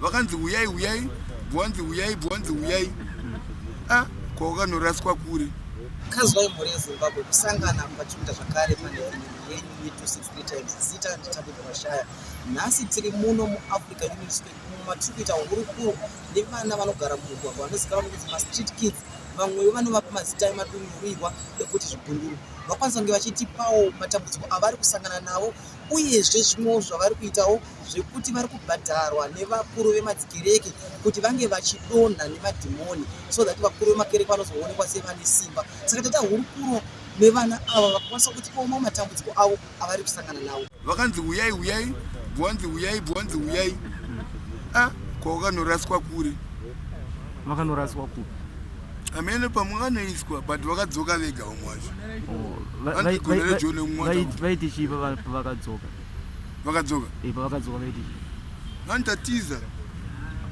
vakanzi huyai huyai bwanzi huyai bwanzi huyai a ah, kwawakanoraswa kure kazwai mhuri yezimbabwe kusangana mukachiita zvakare panevhini yenyu ye263 times zita nditabika mashaya nhasi tiri muno muafrica union state umo matiri kuita hurukuro nevana vanogara mumugwagwa vanozikanwa nokuti mastreet kids vamwewo vanovapa mazita emadunhurirwa ekuti zvigunduru vakwanisa kunge vachitipawo matambudziko avari kusangana navo Uyezve zvimwewo zvavari kuitawo zvekuti vari kubhadharwa nevakuru vemadzikereke kuti vange vachidonha nemadhimoni so that vakuru vemakereke vanozoonekwa sevane simba. Saka taita hurukuro nevana ava vakakwanisa kuti koma matambudziko avo avari kusangana nawo. Vakanzi huyai huyai bwanzi huyai bwanzi huyai ah, kwawakanoraswa kure vakanoraswa kure amene pamwe vanoiswa but vakadzoka vega vamwe vacho vaiti chii pavakadzoka vakadzoka pavakadzoka vaiti chii vanotatiza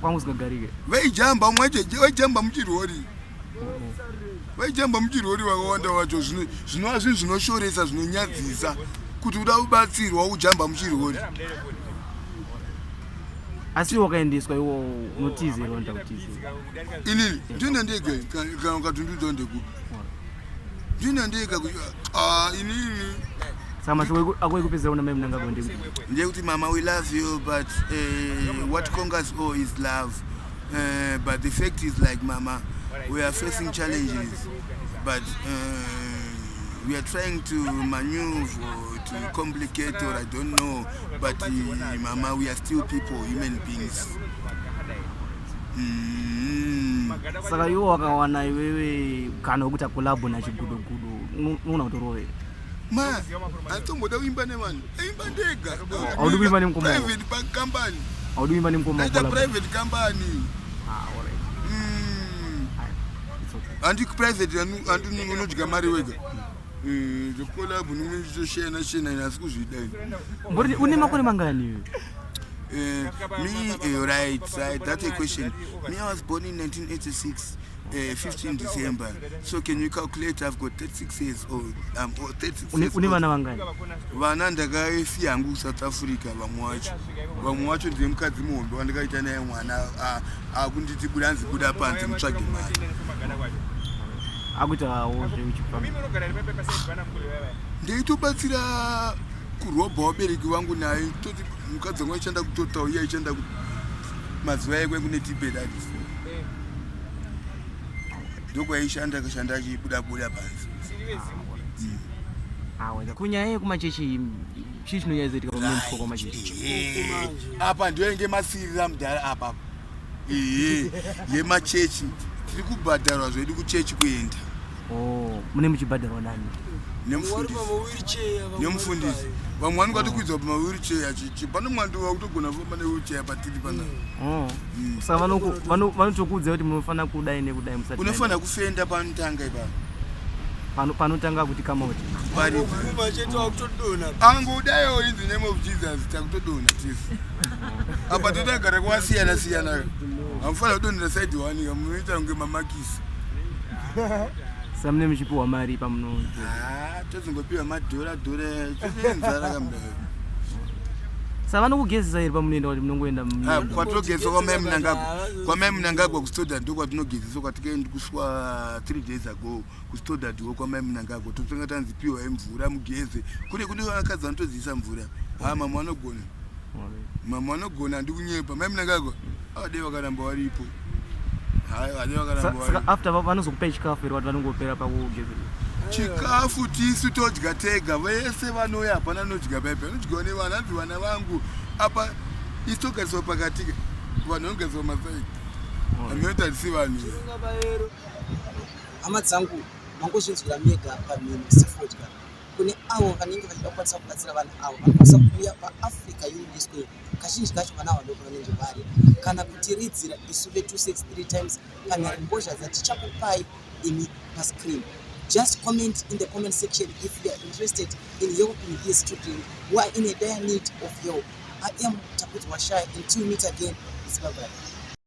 kwangu singagarike vaijamba vamwe vacho vaijamba muchirori vaijamba muchirori vakawanda vacho zvinova zvinhu zvinoshoresa zvinonyadzisa kuti uda kubatsirwa ujamba muchirori asi wakaendeswa iwo unotizerwa nda kutizera inini ndine ndege kana katundudzo ndekupi ndine ndege ah, inini ndekuti mama we love you but uh, what congas o is love uh, but the fact is like mama we are facing challenges but uh, we are trying to maneuver to complicate or i don't know but uh, mama we are still people human beings Mm. saka iwo wakawana iwewe kana wekuita kolabo nachigudogudo unoona kuti rove ma atomboda kuimba nevanhu aimba ndega Haudi kuimba nemukoma wako? private bank company audi kuimba nemukoma ndaita kolabo private company Ah, alright. Mm. It's okay. handi private handi unodya mari wega Eh, zvekolabhu ndinge ndichitoshena shena ini asi kuzvidai Mbori une makore mangani iwe? Eh, me eh, right right that's a question me i was born in 1986 Uh, 15 december so can you calculate i've got 36 years old i'm 36 Une years une old. vana vangani? vana ndakasiya hangu kusouth africa vamwe wacho vamwe wacho ndiye mukadzi muhombe wandikaita naye mwana akunditi buda anzi buda panze mutsvage mari akuitawo zveuchipa ndeitobatsira kurobha wabereki vangu naye toti mukadzi wangu aichanda kutotawo iye aichanda mazuva aye kwe kune tibedad ndokwaaishanda akashanda achibuda buda panze kunyaya yekumachechi chii chinonyaizoitika pamune mukoko manje apa ndiyo yange masirira mudhara apapa ee yemachechi tiri kubhadharwa zvedu kuchechi kuenda oh, mune muchibhadharwa nani nemufundisi vamwe vani kwatikuidzwa pa mawheelchair achichi pane mwandi wakutogona kufamba newheelchair patiri pana oh. hmm. saka vanotokuudza kuti munofanira kudai nekudai musati unofanira kufenda panotanga ipapa pano panotanga kuti kama kuti vanobvuma chete wakutodona angodayo in the name of jesus takutodona tisi apa totagara kwasiyana siyana amufanira kudonera side one ka munoita kunge mamakisi samune muchipiwa mari pamunoona ah, tozongopiwa madhora dhora chonenzara kamdayo sa vanokugezesa here pamunoenda kuti munongoenda ah, kwatogezesa kwamai munangagwa kwamai munangagwa kustoda ndo kwatinogezesa kwatikaendi kuswa three days ago kustodadwo kwamai munangagwa totanga tanzi piwai mvura mugeze kune kune vakadzi vanotodziisa mvura haa mamwe vanogona mamwe vanogona handi kunyepa mai munangagwa avadei vakaramba varipo after vanozokupai chikafu here vati vanongopera pakugeze chikafu tisu todya tega vese vanouya hapana anodya paipi anodyiwa nevana hanzi vana vangu apa isu togariswa pakatika vanhu vanogariswa masaidi Anoita risi vanhu. Hama dzangu mangozvinzwira mega pamhino sefodya kune avo vanenge vachida kukwanisa kubatsira vanhu avo vanokwanisa kuuya paafrica unity square kazhinji kacho vana vadoko vanenge vari kana kutiridzira isu ve263 times panyari mbozha dzatichakupai imi pascreen just comment in the comment section if you are interested in helping these children who are in a dire need of help i am takudzwa shy until meet again is babai